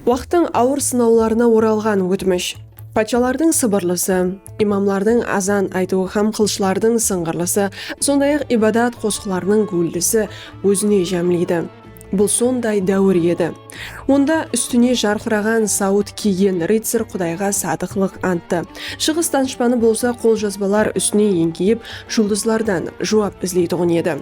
Waqtıń awır sınawlarına oralǵan ótmish, patshalardıń sıbırlısı, imamlardıń azan aytıwı hám qılıshlardıń sıńǵırlısı, sonday-aq, ibadat qosıqlarınıń gúvildisi ózine jámleydi. Bul sonday dáwir edi. Onda ústine jarqıraǵan sawıt kiygen rıtsar qudayǵa sadıqlıq anttı, shıǵıs danıshpanı bolsa qoljazbalar ústine eńkeyip, juldızlardan juwap izleytuǵın edi.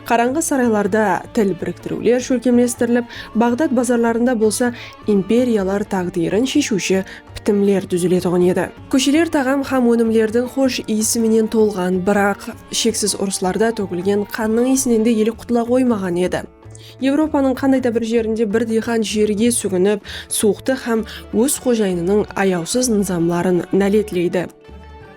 Qarańǵı saraylarda til biriktiriwler shólkemlestirilip, Baǵdad bazarlarında bolsa imperiyalar táǵdiyrin sheshiwshi pitimler dúziletuǵın edi. Kósheler taǵam hám ónimlerdiń xosh iyisi menen tolǵan, biraq, sheksiz urıslarda tógilgen qannıń iyisinen de ele qutula qoymaǵan edi. Evropanıń qanday da bir jerinde bir diyqan jerge súginip, suwıqtı hám óz xojayınınıń ayawsız nızamların náletleydi.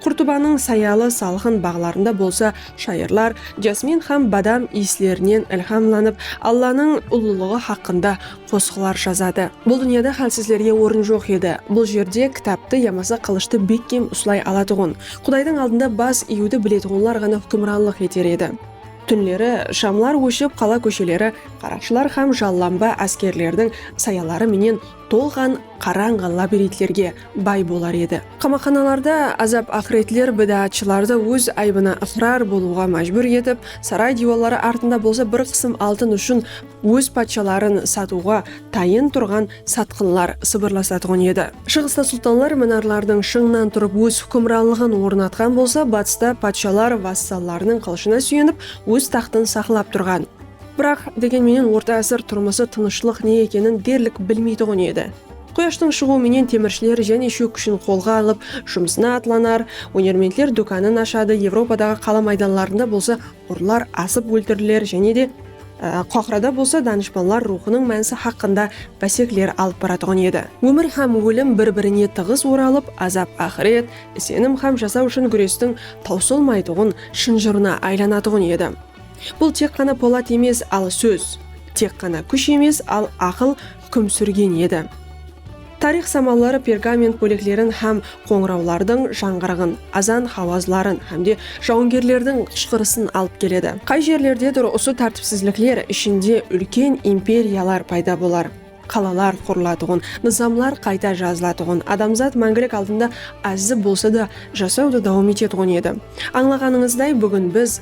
Qurtubanıń sayalı salqın baǵlarında bolsa shayırlar jasmin hám badam iyislerinen ilhamlanıp, Allanıń ullılıǵı haqqında qosıqlar jazadı. Bul dúnyada hálsizlerge orın joq edi. Bul jerde kitaptı yamasa qılıshtı bekkem uslay alatuǵın, Qudaydıń aldında bas iyiwdi biletuǵınlar ǵana húkimranlıq eter edi. Túnleri shamlar óship, qala kósheleri qaraqshılar hám jallanba áskerlerdiń sayaları menen tolǵan qarańǵı labirintlerge bay bolar edi. Qamaqxanalarda azap-aqıretler bidaatshılardı óz aybına ıqrar bolıwǵa májbúr etip, saray diywalları artında bolsa bir qısım altın ushın óz patshaların satıwǵa tayın turǵan satqınlar sıbırlasatuǵın edi. Shıǵısta sultanlar minarlardıń shıńınan turıp óz húkimranlıǵın ornatqan bolsa, batısta patshalar vassallarınıń qılıshına súyenip óz taxtın saqlap turǵan. Biraq, degen menen orta ásir turmısı tınıshlıq ne ekenin derlik bilmeytuǵın edi. Quyashtıń shıǵıwı menen temirshiler jáne shók kúshin qolǵa alıp, jumısına atlanar, ónermentler dókanın ashadı, Evropadaǵı qala maydanlarında bolsa urlar asıp óltiriler jáne de Qohırada bolsa danıshpanlar ruwxınıń mánisi haqqında básekler alıp baratuǵın edi. Ómir hám ólim bir-birine tıǵız oralıp, azap-aqıret, isenim hám jasaw ushın gúrestiń tawsılmaytuǵın shınjırına aylanatuǵın edi. Bul tek ǵana polat emes, al sóz. Tek ǵana kúsh emes, al aqıl húkim súrgen edi. Tariyx samalları pergament bóleklerin hám qońırawlardıń jańǵırıǵın, azan hawazların hámde jawıngerlerdiń qıshqırısın alıp keledi. Qay jerlerdedur usı tártipsizlikler ishinde úlken imperiyalar payda bolar, qalalar qurılatuǵın, nızamlar qayta jazılatuǵın, adamzat máńgilik aldında ázzi bolsa da jasawdı dawam etetuǵın edi. Ańlaǵanıńızday, búgin biz.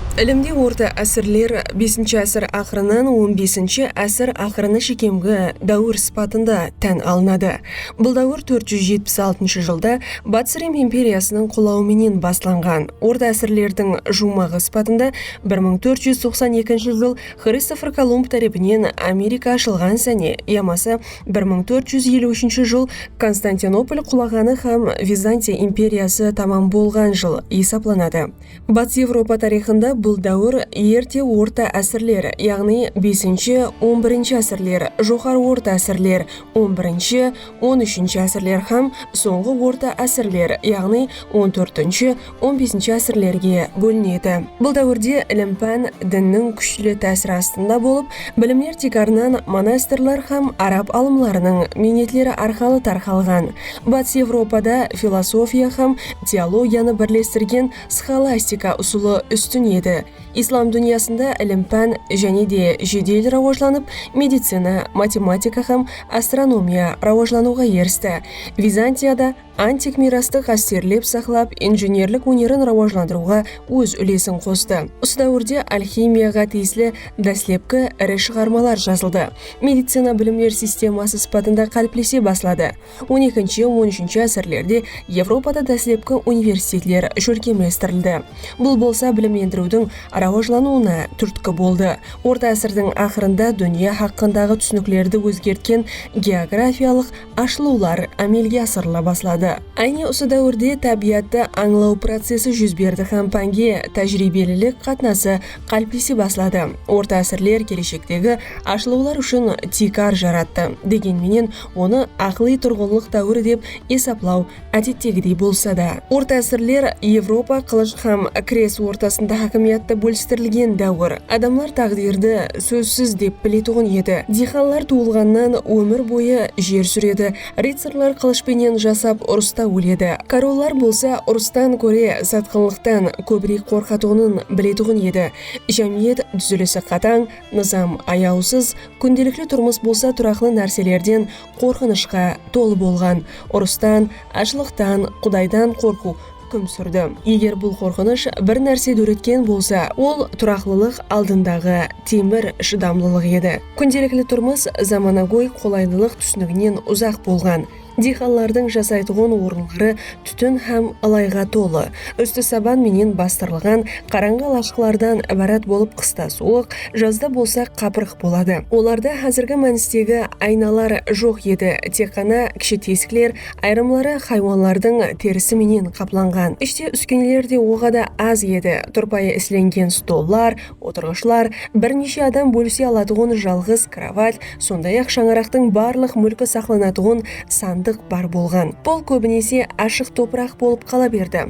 Ilimde orta ásirler besinshi ásir aqırınan on besinshi ásir aqırına shekemgi dáwir sıpatında tán alınadı. Bul dáwir tórt júz jetpis altınshı jılda Batıs Rim imperiyasınıń qulawı menen baslanǵan. Orta ásirlerdiń juwmaǵı sıpatında bir mıń tórt júz toqsan ekinshi jıl Xristofer Kolumb tárepinen Amerika ashılǵan sáne yamasa bir mıń tórt júz eliw úshinshi jıl Konstantinopol qulaǵanı hám Vizantiya imperiyası tamam bolǵan jıl esaplanadı. Batıs Evropa tariyxında bul dáwir Erte orta ásirler, yaǵnıy besinshi, on birinshi ásirler, Joqarı orta ásirler, on birinshi, on úshinshi ásirler hám sońǵı orta ásirler, yaǵnıy on tórtinshi, on besinshi ásirlerge bólinedi. Bul dáwirde ilim-pán dinniń kúshli tásiri astında bolıp, bilimler tiykarınan monastirler hám arab alımlarınıń miynetleri arqalı tarqalǵan. Batıs Evropada filosofiya hám Teologiyanı birlestirgen sxolastika usılı ústin edi. Islam dúnyasında ilim-pán jáne de jedel rawajlanıp, medicina, matematika hám astronomiya rawajlanıwǵa eristi. Vizantiya da antik miyrastı ǵásterlep saqlap, injenerlik ónerin rawajlandırıwǵa óz úlesin qostı. Usı dáwirde alximiyaǵa tiyisli dáslepki iri shıǵarmalar jazıldı, medicina bilimler sisteması sıpatında qáliplese basladı. On ekinshi, on úshinshi ásirlerde Evropada dáslepki universitetler shólkemlestirildi. Bul bolsa bilimlendiriwdiń rawajlanıwına túrtki boldı. Orta ásirdiń aqırında dúnya haqqındaǵı túsiniklerdi ózgertken geografiyalıq ashılıwlar ámelge asırıla basladı. Áne usı dáwirde tábiyattı ańlaw procesi júz berdi hám pánge tájiriybelilik qatnası qáliplese basladı. Orta ásirler keleshektegi ashılıwlar ushın tiykar jarattı. Degen menen, Onı aqılıy turǵınlıq dáwiri dep esaplaw ádettegidey bolsa da. Orta ásirler Evropa qılısh hám kres ortasında hákimiyattı bólistirilgen dáwir. Adamlar táǵdirdi sózsiz dep biletuǵın edi. Diyxanlar tuwılǵannan ómir boyı jer súredi, rıtsarlar qılısh penen jasap urısta óledi. Korollar bolsa urıstan kóre satqınlıqtan kóbirek qorqatuǵının biletuǵın edi. Jámiyet dúzilisi qatań, Nızam, ayawsız, kúndelikli turmıs bolsa turaqlı nárselerden qorqınıshqa tolı bolǵan. Urıstan, ashlıqtan, Qudaydan qorqıw húkim súrdi. Eger bul qorqınısh bir nárse dóretken bolsa, ol turaqlılıq aldındaǵı temir shıdamlılıq edi. Kúndelikli turmıs zamanagóy qolaylılıq túsiniginen uzaq bolǵan. Diyxanlardıń jasaytuǵın orınları tútin hám ılayǵa tolı, ústi saban menen bastırılǵan qarańǵı alashıqlardan ibarat bolıp qısta suwıq, jazda bolsa qapırıq boladı. Olarda házirgi mánistegi aynalar joq edi, tek ǵana kishi tesikler, ayırımları haywanlardıń terisi menen qaplanǵan. Ishte úskeneler de oǵada az edi, turpayı islengen stollar, Otırǵıshlar, bir neshe adam bólise alatuǵın jalǵız krovat, sonday-aq shańaraqtıń barlıq múlki saqlanatuǵın sandıq bar bolǵan. Pol kóbinese ashıq topıraq bolıp qala berdi.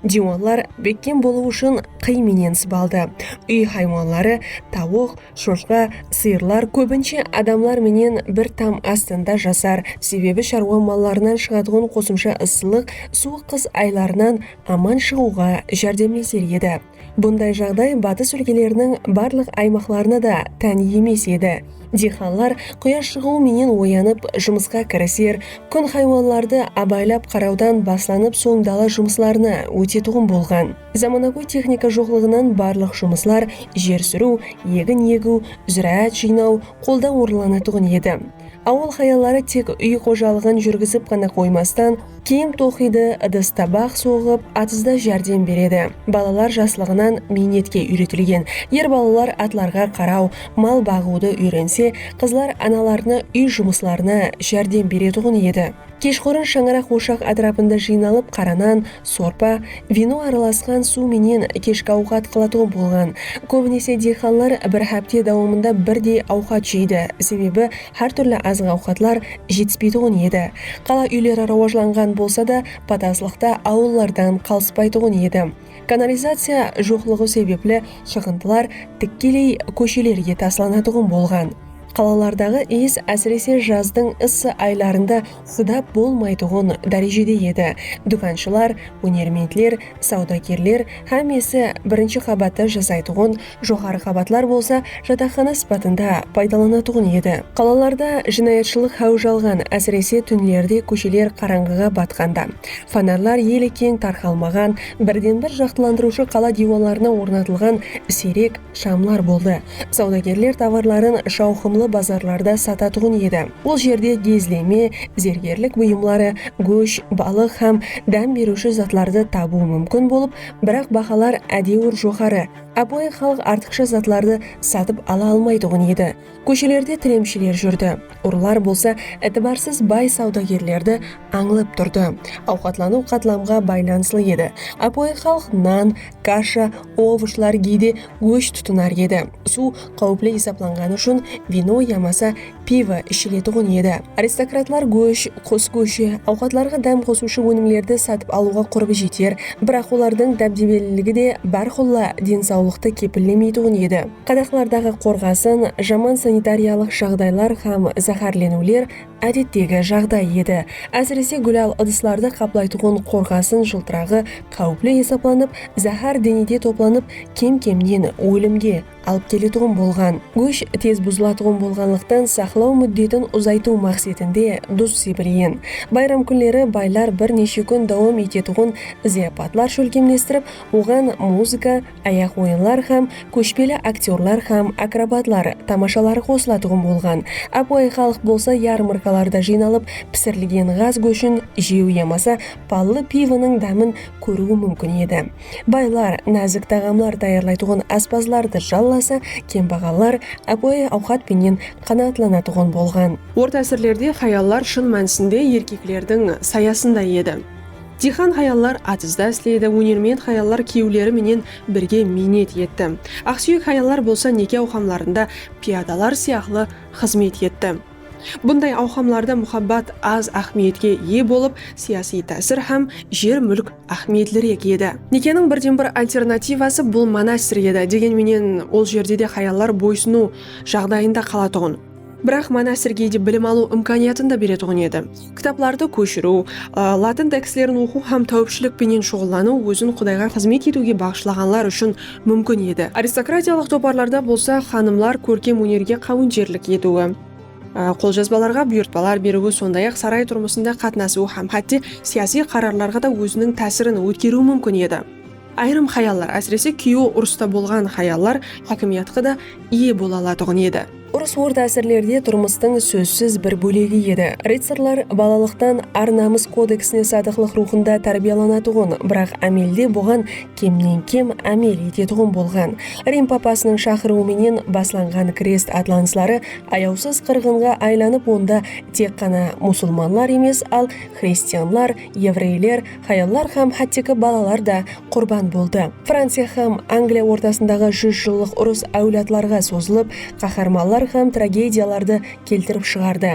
Diywallar bekkem bolıwı ushın qıy menen sıbaldı. Úy haywanları, tawıq, shoshqa, sıyırlar kóbinshe adamlar menen bir tam astında jasar, sebebi sharwa mallarınan shıǵatuǵın qosımsha ıssılıq suwıq qıs aylarınan aman shıǵıwǵa járdemleser edi. Bunday jaǵday batıs úlkeleriniń barlıq aymaqlarına da tán emes edi. Diyxanlar quyash shıǵıwı menen oyanıp, jumısqa kiriser, kún haywanlardı abaylap qarawdan baslanıp soń dala jumıslarına ótetuǵın bolǵan. Zamanagóy texnika joqlıǵınan barlıq jumıslar jer súriw, egin egiw, zúráát jıynaw, qoldan orınlanatuǵın edi. Awıl hayalları tek úy xojalıǵın júrgizip ǵana qoymastan, kiyim toqıydı, ıdıs-tabaq soǵıp, atızda járdem beredi. Balalar jaslıǵınan miynetke úyretilgen. Er balalar atlarǵa qaraw, mal baǵıwdı úyrense, qızlar analarına úy jumıslarına járdem beretuǵın edi. Keshqurın shańaraq oshaq átirapında jıynalıp qara nan, sorpa, vino aralasqan suw menen keshki awqat qılatuǵın bolǵan. Kóbinese diyxanlar bir hápte dawamında birdey awqat jeydi, sebebi hár túrli azıq-awqatlar jetispeytuǵın edi. Qala úyleri rawajlanǵan bolsa da, pataslıqta awıllardan qalıspaytuǵın edi. Kanalizaciya joqlıǵı sebepli shıǵındılar tikkeley kóshelerge taslanatuǵın bolǵan. Qalalardaǵı iyis ásirese jazdıń ıssı aylarında shıdap bolmaytuǵın dárejede edi, dúkanshilar, ónermentler, sawdagerler hámmesi birinshi qabatta jasaytuǵın joqarı qabatlar bolsa jataqxana sıpatında paydalanatuǵın edi. Qalalarda jınayatshılıq háwij alǵan, ásirese túnlerde kósheler qarańǵıǵa batqanda, fonarlar ele keń tarqalmaǵan, birden-bir jaqtılandırıwshı qala diywanlarına ornatılǵan siyrek shamlar boldı. Sawdagerler tovarların shawqımlı bazarlarda satatuǵın edi. Ol jerde gezleme, zergerlik buyımları, gósh, balıq hám dám beriwshi zatlardı tabıw múmkin bolıp, biraq bahalar ádewir joqarı, Ápiwayı xalıq artıqsha zatlardı satıp ala almaytuǵın edi. Kóshelerde tilemshiler júrdi. Urılar bolsa itibarsız bay sawdagerlerdi ańlap turdı. Awqatlanıw qatlamǵa baylanıslı edi. Ápiwayı xalıq nan, kasha, ovoshlar, geyde gósh tutınar edi. Suw qáwipli esaplanǵanı ushın vino yamasa pivo ishiletuǵın edi. Aristokratlar gósh, qus góshi, awqatlarǵa dám qosıwshı ónimlerdi satıp alıwǵa qurbi jeter, biraq olardıń dábdebeliligi de bárqulla densawlıqtı kepillemeytuǵın edi. Qadaqlardaǵı qorǵasın, jaman sanitariyalıq jaǵdaylar hám záhárleniwler ádettegi jaǵday edi. Ásirese gúlal ıdıslardı qaplaytuǵın qorǵasın jıltıraǵı qáwipli esaplanıp, záhár denede toplanıp, kem-kemnen ólimge, alıp keletuǵın bolǵan gósh tez buzılatuǵın bolǵanlıqtan saqlaw múddetin uzaytıw maqsetinde duz sebirgen bayram kúnleri baylar bir neshe kún dawam etetuǵın zıyapatlar shólkemlestirip oǵan muzıka, ayaq oyınlar hám kóshpeli aktyorlar hám akrobatlar tamashaları qosılatuǵın bolǵan. Ápiwayı xalıq bolsa yarmarkalarda jıynalıp pisirilgen ǵaz góshin jew yamasa pallı pivonıń dámin kóriwi múmkin edi. Baylar názik taǵamlar tayarlaytuǵın áspazlardı jallasa, kembaǵallar ápiwayı awqat penen qanaatlanatuǵın bolǵan. Orta ásirlerde hayallar shın mánisinde erkeklerdiń sayasında edi. Diyxan hayallar atızda isledi, ónermen hayallar kúyewleri menen birge miynet etti. Aqsúyek hayallar bolsa neke awqamlarında piyadalar sıyaqlı xızmet etti. Bunday awqamlarda muhabbat az áhmiyetke iye bolıp, siyasiy tásir hám jer-múlk áhmiyetlirek edi. Nekeniń birden-bir alternativası bul monastir edi, degen menen ol jerde de hayallar boysınıw jaǵdayında qalatuǵın, biraq monastir geyde bilim alıw imkaniyatın da beretuǵın edi. Kitaplardı kóshiriw, latın tekstlerin oqıw hám táwipshilik penen shuǵıllanıw ózin Qudayǵa xızmet etiwge baǵıshlaǵanlar ushın múmkin edi. Aristokratiyalıq toparlarda bolsa xanımlar kórkem ónerge qáwinterlik etiwi, qoljazbalarǵa buyırtpalar beriwi, sonday-aq saray turmısında qatnasıwı hám hátte siyasiy qararlarǵa da óziniń tásirin ótkeriwi múmkin edi. Ayırım hayallar, ásirese kúyewi urısta bolǵan hayallar hákimiyatqa da iye bola alatuǵın edi. Urıs orta ásirlerde turmıstıń sózsiz bir bólegi edi. Rıtsarlar balalıqtan ar-namıs kodeksine sadıqlıq ruwxında tárbiyalanatuǵın, biraq ámelde buǵan kemnen kem ámel etetuǵın bolǵan. Rim papasınıń shaqırıwı menen baslanǵan krest atlanısları ayawsız qırǵınǵa aylanıp onda tek ǵana musulmanlar emes al xristianlar, evreyler, Hayallar hám hátteki balalar da qurban boldı. Franciya hám Angliya ortasındaǵı júz jıllıq urıs áwladlarǵa sozılıp, qaharmanlar hám tragediyalardı keltirip shıǵardı.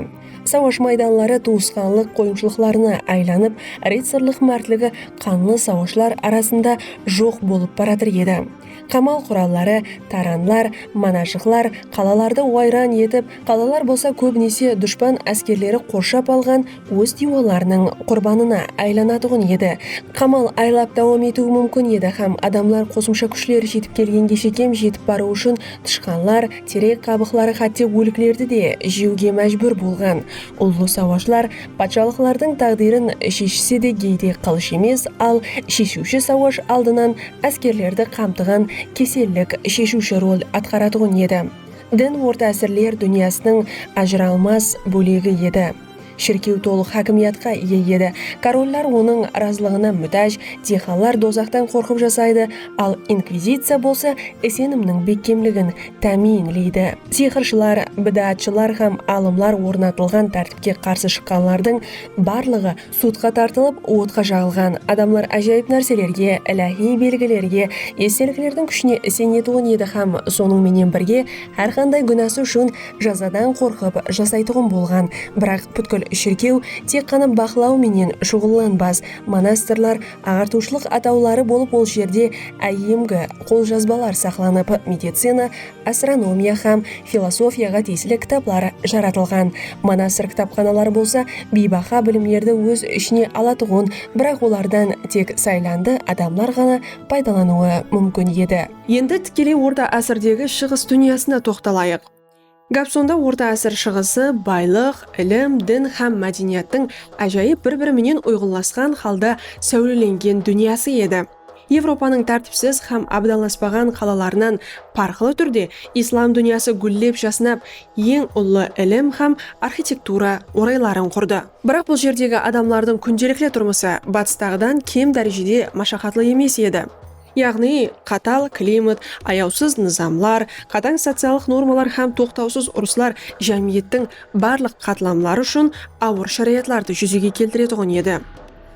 Sawash maydanları tuwısqanlıq qoyımshılıqlarına aylanıp, rıtsarlıq mártligi qanlı sawashlar arasında joq bolıp baratır edi. Qamal quralları, taranlar, manajıqlar qalalardı wayran etip, qalalar bolsa kóbinese dushpan áskerleri qorshap alǵan Óz diywalarınıń qurbanına aylanatuǵın edi. Qamal aylap dawam etiwi múmkin edi hám adamlar qosımsha kúshler jetip kelgenge shekem jetip barıw ushın tıshqanlar, terek qabıqları hátte óliklerdi de jewge májbúr bolǵan. Ullı sawashlar patshalıqlardıń táǵdirin sheshise de geyde qılısh emes, al sheshiwshi sawash aldınan áskerlerdi qamtıǵan kesellik sheshiwshi rol atqaratuǵın edi. Din orta ásirler dúnyasınıń ajıralmas bólegi edi. Shirkew tolıq hákimiyatqa iye edi. Korollar onıń razılıǵına mútáj, diyxanlar dozaqtan qorqıp jasaydı, al inkvizitsiya bolsa isenimniń bekkemligin támiyinleydi. Sıyqırshılar, bidaatshılar hám alımlar ornatılǵan tártipke qarsı shıqqanlardıń barlıǵı sudqa tartılıp, otqa jaǵılǵan. Adamlar ájayıp nárselerge, iláhiy belgilerge, esteliklerdiń kúshine isenetuǵın edi hám sonıń menen birge Hár qanday gúnası ushın jazadan qorqıp jasaytuǵın bolǵan. Biraq pútkil shirkew tek ǵana baqlaw menen shuǵıllanbas. Monastirlar, aǵartıwshılıq atawları bolıp ol jerde áyyemgi qoljazbalar saqlanıp, medicina, astronomiya hám filosofiyaǵa tiyisli kitaplar jaratılǵan. Monastir kitapxanaları bolsa biybaha bilimlerdi óz ishine alatuǵın, biraq olardan tek saylandı adamlar ǵana paydalanıwı múmkin edi. Endi tikeley Orta ásirdegi Shıǵıs dúnyasına toqtalayıq. Gáp sonda Orta ásir Shıǵısı baylıq, ilim, din hám mádeniyattıń ájayıp bir-biri menen uyǵınlasqan halda sáwlelengen dúnyası edi. Evropanıń tártipsiz hám abdanlaspaǵan qalalarınan parqlı túrde Islam dúnyası gúllep jasnap, eń ullı ilim hám arxitektura orayların qurdı. Biraq bul jerdegi adamlardıń kúndelikli turmısı batıstaǵıdan kem dárejede mashaqatlı emes edi. Yaǵnıy, qatal klimat, ayawsız nızamlar, qatań sociallıq normalar hám toqtawsız urıslar jámiyettiń barlıq qatlamları ushın awır sharayatlardı júzege keltiretuǵın edi.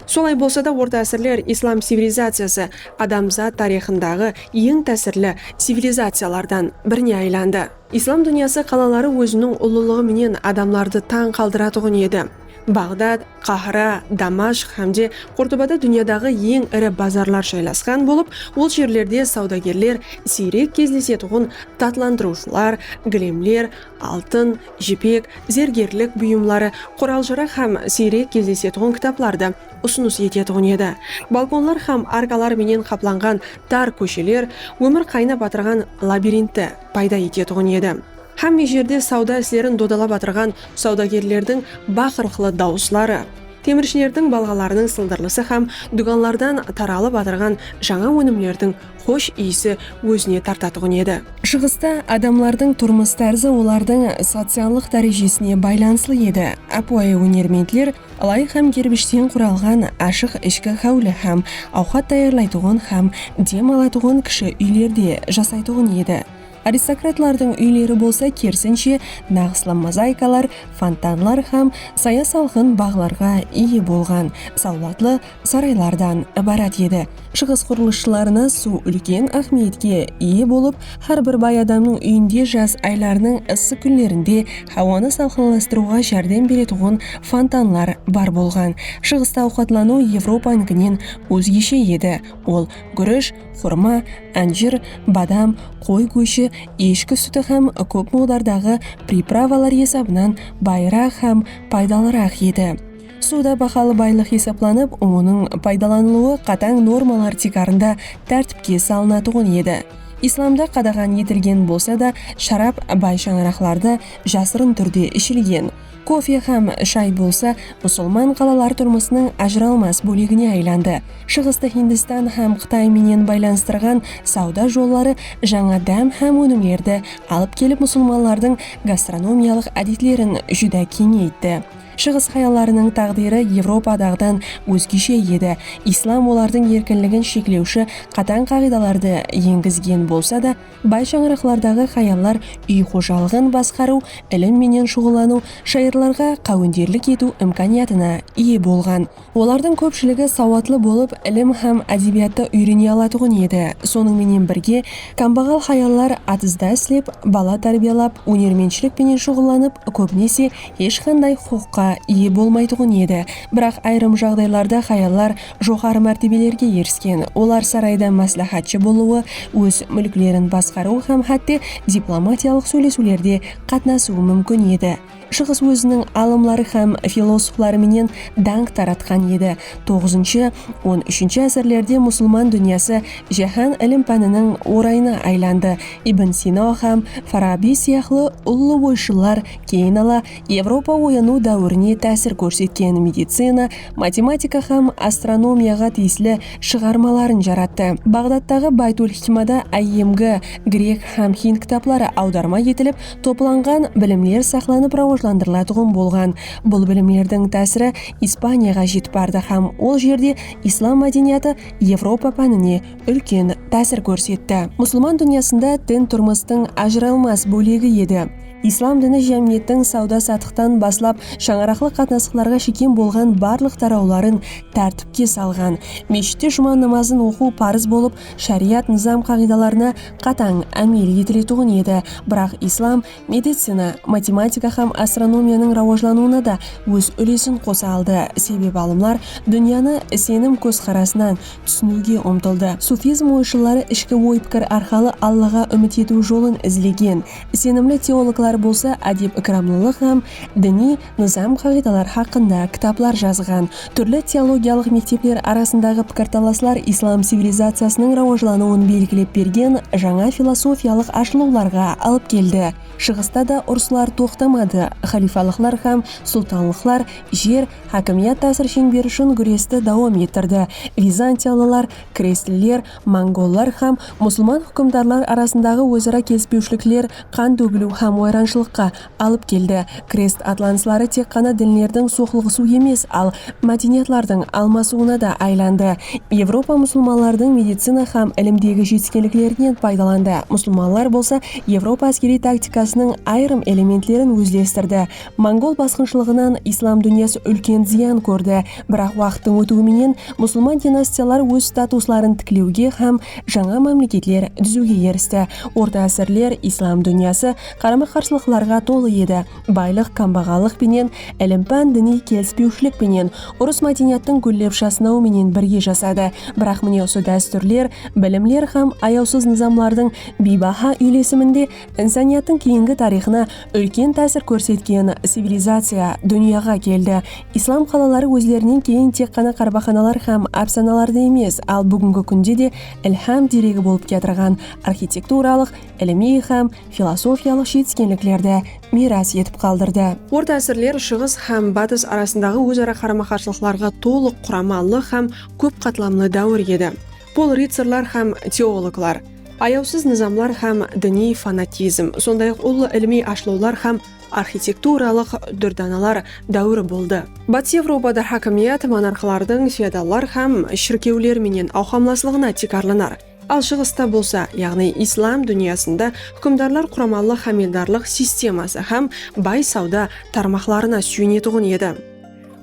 Solay bolsa da, orta ásirler islam civilizaciyası adamzat tariyxındaǵı eń tásirli civilizaciyalardan birine aylandı. Islam dúnyası qalaları óziniń ullılıǵı menen adamlardı tań qaldıratuǵın edi. Baǵdad, Qahira, Damashq hám de Qurtubada dúnyadaǵı eń iri bazarlar jaylasqan bolıp, ol jerlerde sawdagerler siyrek gezlesetuǵın tatlandırıwshılar, gilemler, altın, jipek, zergerlik buyımları, qural-jaraq hám siyrek gezlesetuǵın kitaplardı usınıs etetuǵın edi. Balkonlar hám arkalar menen qaplanǵan tar kósheler ómir qaynap atırǵan labirintti payda etetuǵın edi. Hámme jerde sawda islerin dodalap atırǵan sawdagerlerdiń baqırıqlı dawısları, temirshilerdiń balǵalarınıń sıldırlısı hám dúkanlardan taralıp atırǵan jańa ónimlerdiń xosh iyisi ózine tartatuǵın edi. Shıǵısta adamlardıń turmıs tárzı olardıń sociallıq dárejesine baylanıslı edi. Ápiwayı ónermentler lay hám gerbishten quralǵan ashıq ishki háwli hám awqat tayarlaytuǵın hám dem alatuǵın kishi úylerde jasaytuǵın edi. Aristokratlardıń úyleri bolsa kerisinshe naǵıslı mozaikalar, fontanlar hám saya-salqın baǵlarǵa iye bolǵan sawlatlı saraylardan ibarat edi. Shıǵıs qurılısshılarına suw úlken áhmiyetke iye bolıp, hár bir bay adamnıń úyinde jaz aylarınıń ıssı kúnlerinde hawanı salqınlastırıwǵa járdem beretuǵın fontanlar bar bolǵan. Shıǵısta awqatlanıw Evropanıkinen ózgeshe edi, ol gúrish, xurma, ánjir, badam, qoy góshi, eshki súti hám kóp muǵdardaǵı pripravalar esabınan bayraq hám paydalıraq edi. Suda bahalı baylıq esaplanıp, onıń paydalanılıwı qatań normalar tiykarında tártipke salınatuǵın edi. Islamda qadaǵan etilgen bolsa da, sharap bay shańaraqlarda jasırın túrde ishilgen. Kofe hám shay bolsa musulman qalalar turmısınıń ajıralmas bólegine aylandı. Shıǵıstı Hindistan hám Qıtay menen baylanıstırǵan sawda jolları jańa dám hám ónimlerdi alıp kelip musulmanlardıń gastronomiyalıq ádetlerin júdá keńeytti. Shıǵıs hayallarınıń táǵdiri Evropadaǵıdan ózgeshe edi, islam olardıń erkinligin sheklewshi qatań qaǵıydalardı engizgen bolsa da, Bay shańaraqlardaǵı hayallar úy xojalıǵın basqarıw, ilim menen shuǵıllanıw, shayırlarǵa qáwenderlik etiw imkaniyatına iye bolǵan. Olardıń kópshiligi sawatlı bolıp, ilim hám ádebiyattı úyrene alatuǵın edi. Sonıń menen birge, kámbaǵal hayallar atızda islep, bala tárbiyalap, ónermentshilik penen shuǵıllanıp, kóbinese, hesh qanday huqıqqa iye bolmaytuǵın edi. Biraq ayırım jaǵdaylarda hayallar joqarı mártebelerge erisken, olar sarayda másláhátshi bolıwı, óz múlklerin basqarıwı hám hátte diplomatiyalıq sóylesiwlerde qatnasıwı múmkin edi. Shıǵıs óziniń alımları hám filosofları menen dańq taratqan edi. Toǵızınshı, on úshinshi ásirlerde musılman dúnyası jáhán ilim-pániniń orayına aylandı, Ibn Sino hám Farabiy sıyaqlı ullı oyshıllar keyin ala Evropa oyanıw dáwirine tásir kórsetken medicina, matematika hám astronomiyaǵa tiyisli shıǵarmaların jarattı. Baǵdattaǵı Baytul-hikmada IMG, grek hám hind kitapları awdarma etilip, toplanǵan bilimler saqlanıp rawajlandırılatuǵın bolǵan. Bul bilimlerdiń tásiri Ispaniyaǵa jetip bardı hám ol jerde islam mádeniyatı Evropa pánine úlken tásir kórsetti. Musılman dúnyasında din turmıstıń ajıralmas bólegi edi. Islam dini jámiyettiń sawda-satıqtan baslap shańaraqlıq qatnasıqlarǵa shekem bolǵan barlıq tarawların tártipke salǵan. Meshitte juma namazın oqıw parız bolıp, shariyat nızam-qaǵıydalarına qatań ámel etiletuǵın edi, biraq islam medicina, matematika hám astronomiyanıń rawajlanıwına da óz úlesin qosa aldı, sebep alımlar dúnyanı isenim kózqarasınan túsiniwge umtıldı. Sufizm oyshılları ishki oy-pikir arqalı Allaǵa úmit etiw jolın izlegen. Isenimli teologlar bolsa ádep-ikramlılıq hám diniy nızam-qaǵıydalar haqqında kitaplar jazǵan. Túrli teologiyalıq mektepler arasındaǵı pikirtalaslar islam civilizaciyasınıń rawajlanıwın belgilep bergen jańa filosofiyalıq ashılıwlarǵa alıp keldi. Shıǵısta da urıslar toqtamadı, xalifalıqlar hám sultanlıqlar jer, hákimiyat tásir sheńberi ushın gúresti dawam ettirdi, vizantiyalılar, krestliler, Mongollar hám musılman húkimdarlar arasındaǵı óz-ara kelispewshilikler qan tógiliw hám wayranshılıqqa alıp keldi. Krest atlanısları tek ǵana dinlerdiń soqlıǵısıw emes, al mádeniyatlardıń almasıwına da aylandı. Evropa musılmanlardıń medicina hám ilimdegi jetiskenliklerinen paydalandı, musılmanlar bolsa Evropa áskeriy taktikasınıń ayırım elementlerin ózlestirdi. Mongol basqınshılıǵınan islam dúnyası úlken zıyan kórdi, biraq waqıttıń ótiwi menen musılman dinastiyalar óz statusların tiklewge hám jańa mámleketler dúziwge eristi. Orta ásirler islam dúnyası qarama-qarsılıqlarǵa tolı edi, baylıq kámbaǵallıq penen, ilim-pán diniy kelispewshilik penen, urıs mádeniyattıń gúllep jasnawı menen birge jasadı. Biraq mine usı dástúrler, bilimler hám ayawsız nızamlardıń biybaha úylesiminde Insaniyattıń keyingi tariyxına úlken tásir kórsetken civilizaciya dúnyaǵa keldi. Islam qalaları ózlerinen keyin tek ǵana qarbaqanalar hám ápsanalarda emes, al búgingi kúnde de ilham deregi bolıp kiyatırǵan arxitekturalıq, ilimiy hám filosofiyalıq jetiskenliklerdi miyras etip qaldırdı. Orta ásirler Shıǵıs hám Batıs arasındaǵı óz-ara qarama-qarsılıqlarǵa tolıq quramallı hám kóp qatlamlı dáwir edi. Pul rıtsarlar hám teologlar, ayawsız nızamlar hám diniy fanatizm, sonday-aq ullı ilimiy ashılıwlar hám arxitekturalıq dúrdanalar dáwiri boldı. Batıs Evropada hákimiyat monarxlardıń feodallar hám shirkewler menen awqamlaslıǵına tiykarlanar, al Shıǵısta bolsa, yaǵnıy islam dúnyasında húkimdarlar quramallı hámeldarlıq sisteması hám bay sawda tarmaqlarına súyinetuǵın edi.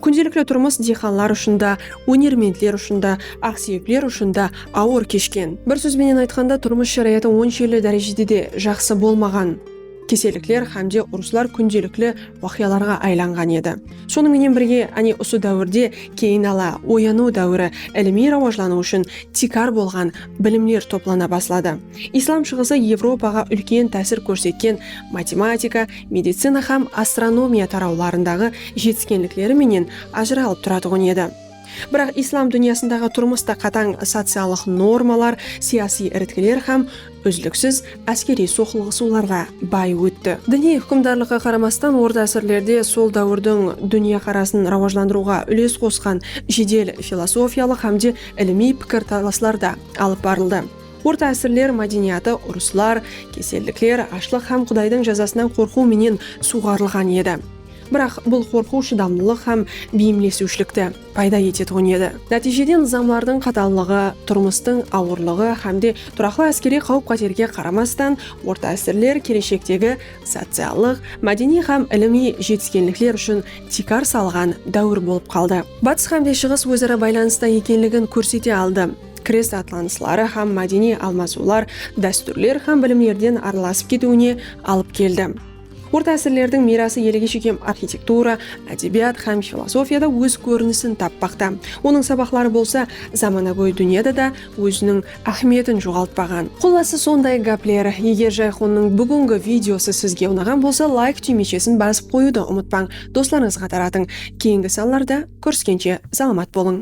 Kúndelikli turmıs diyxanlar ushın da, ónermentler ushın da, aqsúyekler ushın da awır keshken. Bir sóz benen aytqanda, turmıs sharayatı onshelli dárejede de jaqsı bolmaǵan. Kesellikler hám de urıslar kúndelikli waqıyalarǵa aylanǵan edi. Sonıń menen birge, áne usı dáwirde keyin ala, oyanıw dáwiri, ilimiy rawajlanıw ushın tiykar bolǵan bilimler toplana basladı. Islam shıǵısı Evropaǵa úlken tásir kórsetken matematika, medicina hám astronomiya tarawlarındaǵı jetiskenlikleri menen ajıralıp turatuǵın edi. Biraq Islam dúnyasındaǵı turmısta qatań sociallıq normalar, siyasiy iritkiler hám úzliksiz áskeriy soqılıǵısıwlarǵa bay ótti. Diniy húkimdarlıqqa qaramastan orta ásirlerde sol dáwirdiń dúnyaqarasın rawajlandırıwǵa úles qosqan jedel filosofiyalıq hám de ilimiy pikir talaslar da alıp barıldı. Orta ásirler mádeniyatı urıslar, kesellikler, ashlıq hám Qudaydıń jazasınan qorqıw menen suwǵarılǵan edi. Biraq bul qorqıw shıdamlılıq hám beyimlesiwshilikti payda etetuǵın edi. Nátiyjede nızamlardıń qatallıǵı, turmıstıń awırlıǵı hám de turaqlı áskeriy qáwip-qáterge qaramastan, orta ásirler keleshektegi sociallıq, mádeniy hám ilimiy jetiskenlikler ushın tiykar salǵan dáwir bolıp qaldı. Batıs hám de Shıǵıs óz-ara baylanısta ekenligin kórsete aldı. Krest atlanısları hám mádeniy almasıwlar dástúrler hám bilimlerden aralasıp ketiwine alıp keldi. Orta ásirlerdiń miyrası elege shekem arxitektura, ádebiyat hám filosofiyada óz kórinisin tappaqta. Onıń sabaqları bolsa zamanagóy dúnyada da óziniń áhmiyetin joǵaltpaǵan. Qullası sonday gápler. Eger Jayxonnıń búgingi videosı sizge unaǵan bolsa layk túymechesin basıp qoyıwdı umıtpań, doslarıńızǵa taratıń. Keyingi sanlarda kóriskenshe salamat bolıń.